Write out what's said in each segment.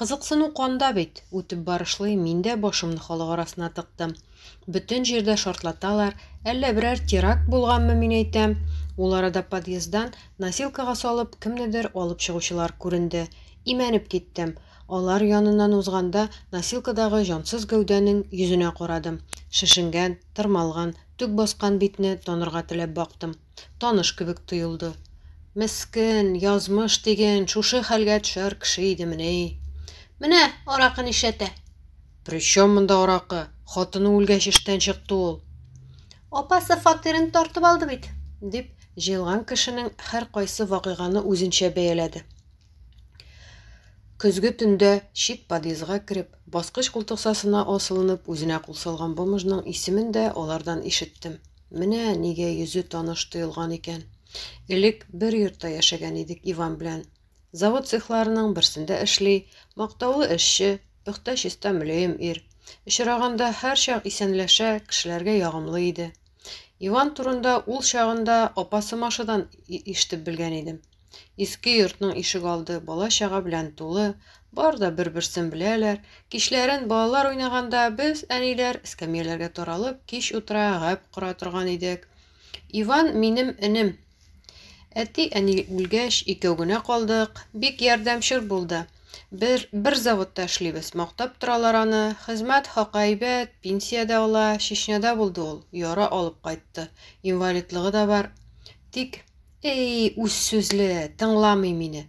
Кызыксыну канда бит, үтеп барышлый, мин дә башымны халык арасына тыктым. Бөтен җирдә шартлаталар, әллә берәр теракт булганмы, мин әйтәм. Ул арада подъезддан носилкага салып кемнедер алып чыгучылар күренде. Имәнеп киттем. Алар яныннан узганда, носилкадагы җансыз гәүдәнең йөзенә карадым. Шешенгән, тырмалган, төк баскан битне танырга теләп бактым. Таныш кебек тоелды. Мескен, язмыш диген, шушы хәлгә төшәр кеше идемени? Менә аракы нишәтә. Причем монда аракы? Хатыны үлгәч эштән чыкты ул. Апасы фатирын тартып алды бит, дип, җыелган кешенең һәркайсы вакыйганы үзенчә бәяләде. Көзге төндә чит подъездга кереп, баскыч култыксасына асылынып, үзенә кул салган бомжның исемен дә алардан ишеттем. Менә нигә йөзе таныш тоелган икән. Элек бер йортта яшәгән идек Иван белән. Завод цехларының берсендә эшли, мактаулы эшче, пөхтә чиста мөләем ир. Очраганда һәрчак исәнләшә, кешеләргә ягымлы иде. Иван турында ул чагында апасы Машадан иштеп белгән идем. Иске йортның ишегалды бала-чага белән тулы, бар да бер-берсен беләләр. Кичләрен балалар уйнаганда без, әниләр, эскәмияләргә таралып, кич утыра, гәп кора торган идек. Иван минем энем. Әти-әни үлгәч, икәү генә калдык. Бик ярдәмчел булды. Бер, бер заводта эшлибез, мактап торалар аны. Хезмәт хакы әйбәт, пенсия дә ала. Чечняда булды ул, яра алып кайтты. Инвалидлыгы да бар. Тик Әй, үз сүзле, тыңламый мине.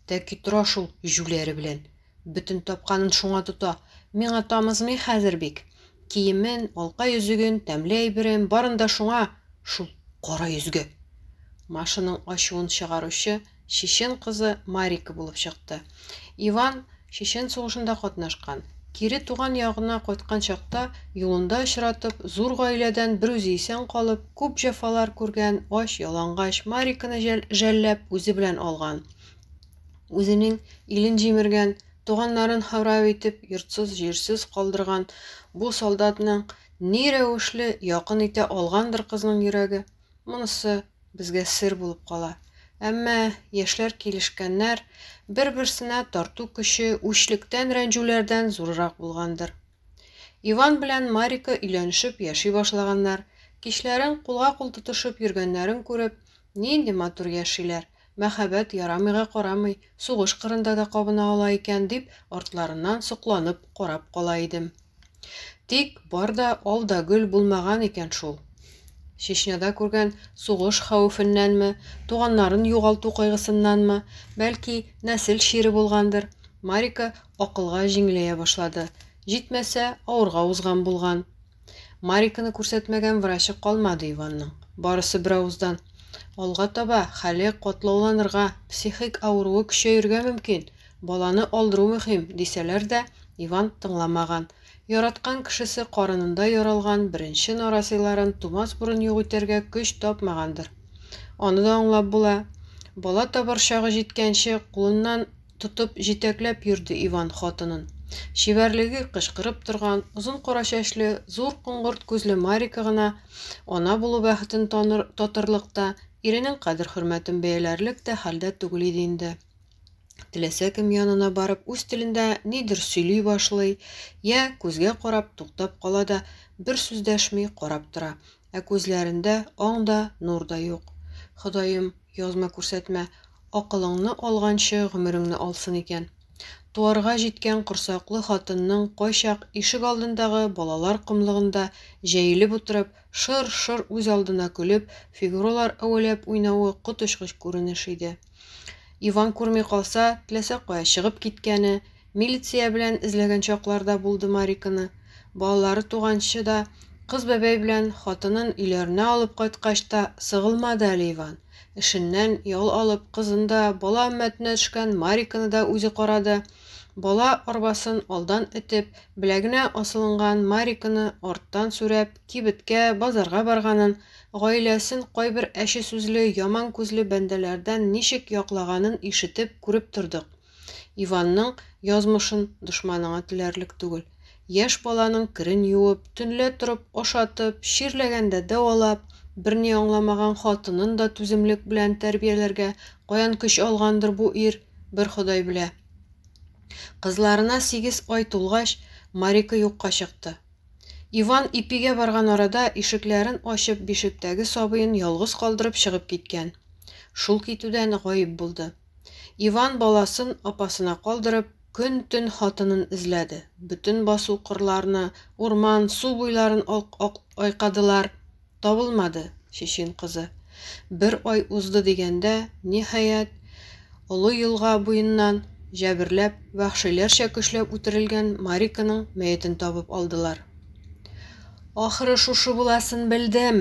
Тәки тора шул җүләре белән. Бөтен тапканын шуңа тота. Миңа тамызмый хәзер бик. Киемен, алка йөзеген, тәмле әйберен, барын да шуңа, шул кара йөзгә. Машаның ачуын чыгаручы чечен кызы Марика булып чыкты. Иван Чечен сугышында катнашкан. Кире туган ягына кайткан чакта, юлында очратып, зур гаиләдән бер үзе исән калып, күп җәфалар күргән, ач, ялангач Мариканы жәлләп, үзе белән алган. Үзенең илен җимергән, туганнарын харап итеп, йортсыз-җирсез калдырган бу солдатның ни рәвешле якын итә алгандыр кызның йөрәге? Монысы безгә сер булып кала. Әмма яшьләр килешкәннәр, бер-берсенә тарту көче үчлектән рәнҗүләрдән зуррак булгандыр. Иван белән Марика өйләнешеп яши башлаганнар, кичләрен кулга-кул тотышып йөргәннәрен күреп, нинди матур яшиләр, Мәһабәт ярамыйга карамый, сугыш кырында да кабына ала икән, дип, артларыннан сокланып карап кала идем. Тик бар да ал да гөл булмаган икән шул. Чечняда күргән сугыш хәвефеннәнме, туганнарын югалту кайгысыннанмы, бәлки, нәсел чире булгандыр, Марика акылга җиңеләя башлады, җитмәсә, авырга узган булган. Мариканы күрсәтмәгән врачы калмады Иванның. Барысы беравыздан, Алга таба хәле катлауланырга, психик авыруы көчәерергә мөмкин, баланы алдыру мөһим, дисәләр дә, Иван тыңламаган. Яраткан кешесе карынында яралган беренче нарасыйларын тумас борын юк итәргә көч тапмагандыр. Аны да аңлап була. Бала табар чагы җиткәнче, кулыннан тотып, җитәкләп йөрде Иван хатынын. Чибәрлеге кычкырып торган, озын кара чәчле, зур коңгырт күзле Марика гына ана булу бәхетен таныр, татырлык та, иренең кадер-хөрмәтен бәяләрлек тә хәлдә түгел иде инде. Теләсә кем янына барып, үз телендә нидер сөйли башлый, я, күзгә карап, туктап кала да, бер сүз дәшми, карап тора. Ә күзләрендә аң да, нур да юк. Ходаем, язма күрсәтмә, акылыңны алганчы гомереңне алсын икән. Туарга җиткән корсаклы хатынның кайчак ишегалдындагы балалар комлыгында җәелеп утырып, шыр-шыр үз алдына көлеп, фигуралар әвәләп уйнавы коточкыч күренеш иде. Иван күрми калса, теләсә кая чыгып киткәне, Милиция белән эзләгән чаклар да булды Мариканы. Балалары туганчы да, кыз бәбәй белән хатынын өйләренә алып кайткач та сыгылмады әле Иван. Эшеннән ял алып, кызын да, бала өммәтенә төшкән Мариканы да үзе карады. Бала арбасын алдан этеп, беләгенә асылынган Мариканы арттан сүрәп, кибеткә, базарга барганын, гаиләсен кайбер әче сүзле, яман күзле бәндәләрдән ничек яклаганын ишетеп, күреп тордык. Иванның язмышын дошманыңа теләрлек түгел. Яшь баланың керен юып, төнлә торып ашатып, чирләгәндә дәвалап, берни аңламаган хатынын да түземлек белән тәрбияләргә каян көч алгандыр бу ир, бер Ходай белә. Кызларына сигез ай тулгач, Марика юкка чыкты. Иван ипигә барган арада ишекләрен ачып бишектәге сабыен ялгыз калдырып чыгып киткән. Шул китүдән гаип булды. Иван баласын апасына калдырып, көн-төн хатынын эзләде. Бөтен басу кырларны, урман, су буйларын айкадылар, табылмады Чечен кызы. Бер ай узды дигәндә, ниһаять, Олы елга буеннан җәберләп, вәхшиләрчә көчләп үтерелгән Мариканың мәетен табып алдылар. Ахыры шушы буласын белдем.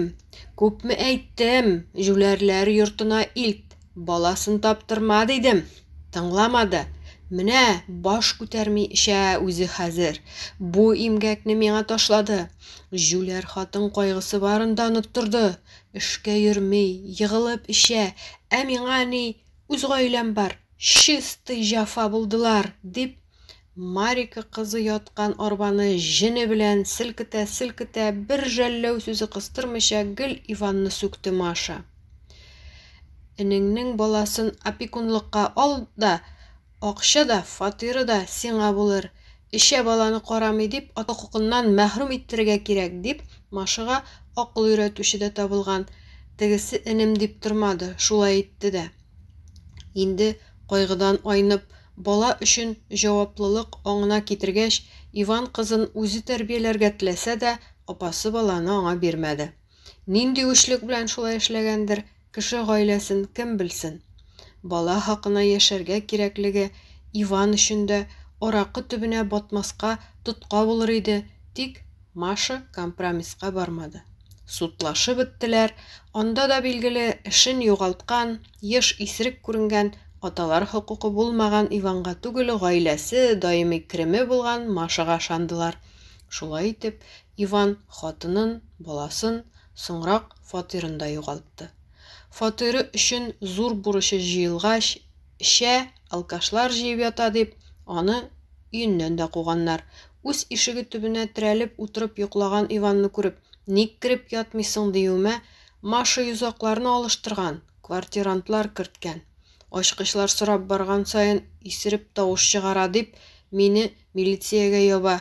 Күпме әйттем, җүләрләр йортына илт, Баласын таптырма, дидем. Тыңламады. Менә баш күтәрми эчә үзе хәзер. Бу имгәкне миңа ташлады. Җүләр хатын кайгысы барын да оныттырды. Эшкә йөрми, егылып эчә, ә миңа ни, үз гаиләм бар, чистый җафа булдылар, дип Марика кызы яткан арбаны җене белән селкетә-селкетә, бер жәлләү сүзе кыстырмыйча гел Иванны сүкте Маша. Энеңнең баласын опекунлыкка ал да, акча да, фатиры да сиңа булыр. Эчә баланы карамый дип, ата хокукыннан мәхрүм иттерергә кирәк, дип, Машага акыл өйрәтүче дә табылган. Тегесе энем дип тормады, шулай итте дә. Инде кайгыдан айнып, бала өчен җаваплылык аңына китергәч, Иван кызын үзе тәрбияләргә теләсә дә, апасы баланы аңа бирмәде. Нинди үчлек белән шулай эшләгәндер, кеше гаиләсен кем белсен. Бала хакына яшәргә кирәклеге Иван өчен дә аракы төбенә батмаска тотка булыр иде, тик Маша компромисска бармады. Судлашып беттеләр, анда да, билгеле, эшен югалткан, еш исерек күренгән, аталар хокукы булмаган Иванга түгел, гаиләсе, даими кереме булган Машага ышандылар. Шулай итеп, Иван хатынын, баласын, соңрак фатирын да югалтты. Фатиры өчен зур бурычы җыелгач, эчә, алкашлар җыеп ята дип, аны өеннән дә куганнар. Үз ишеге төбенә терәлеп утырып йоклаган Иванны күреп, Ник кереп ятмыйсың диюемә, Маша йозакларны алыштырган, квартирантлар керткән. Ачкычлар сорап барган саен исереп тавыш чыгара дип, мине милициягә яба.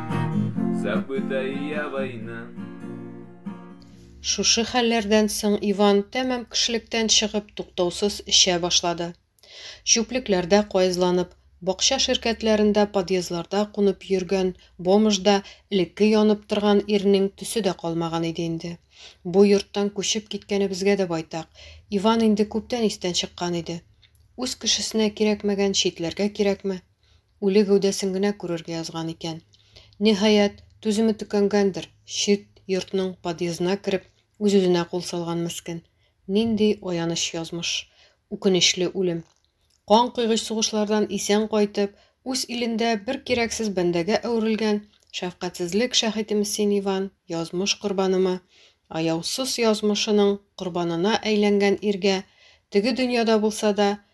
забыта я война. Шушы хәлләрдән соң Иван тәмам кешелектән чыгып туктаусыз эчә башлады. Чүплекләрдә каезланып, бакча ширкәтләрендә подъездларда кунып йөргән бомжда элекке янып торган ирнең төсе дә калмаган иде инде. Бу йорттан күчеп киткәнебезгә дә байтак. Иван инде күптән истән чыккан иде. Үз кешесенә кирәкмәгән читләргә кирәкме? Үле гәүдәсен генә күрергә язган икән. Ниһаять, түземе төкәнгәндер, чит йортның подъездына кереп, үз-үзенә кул салган мескен. Нинди аяныч язмыш! Үкенечле үлем! Кан койгыч сугышлардан исән кайтып, үз илендә бер кирәксез бәндәгә әверелгән шәфкатьсезлек шаһитеме син, Иван, язмыш корбанымы, аяусыз язмышының корбанына әйләнгән иргә, теге дөньяда булса да,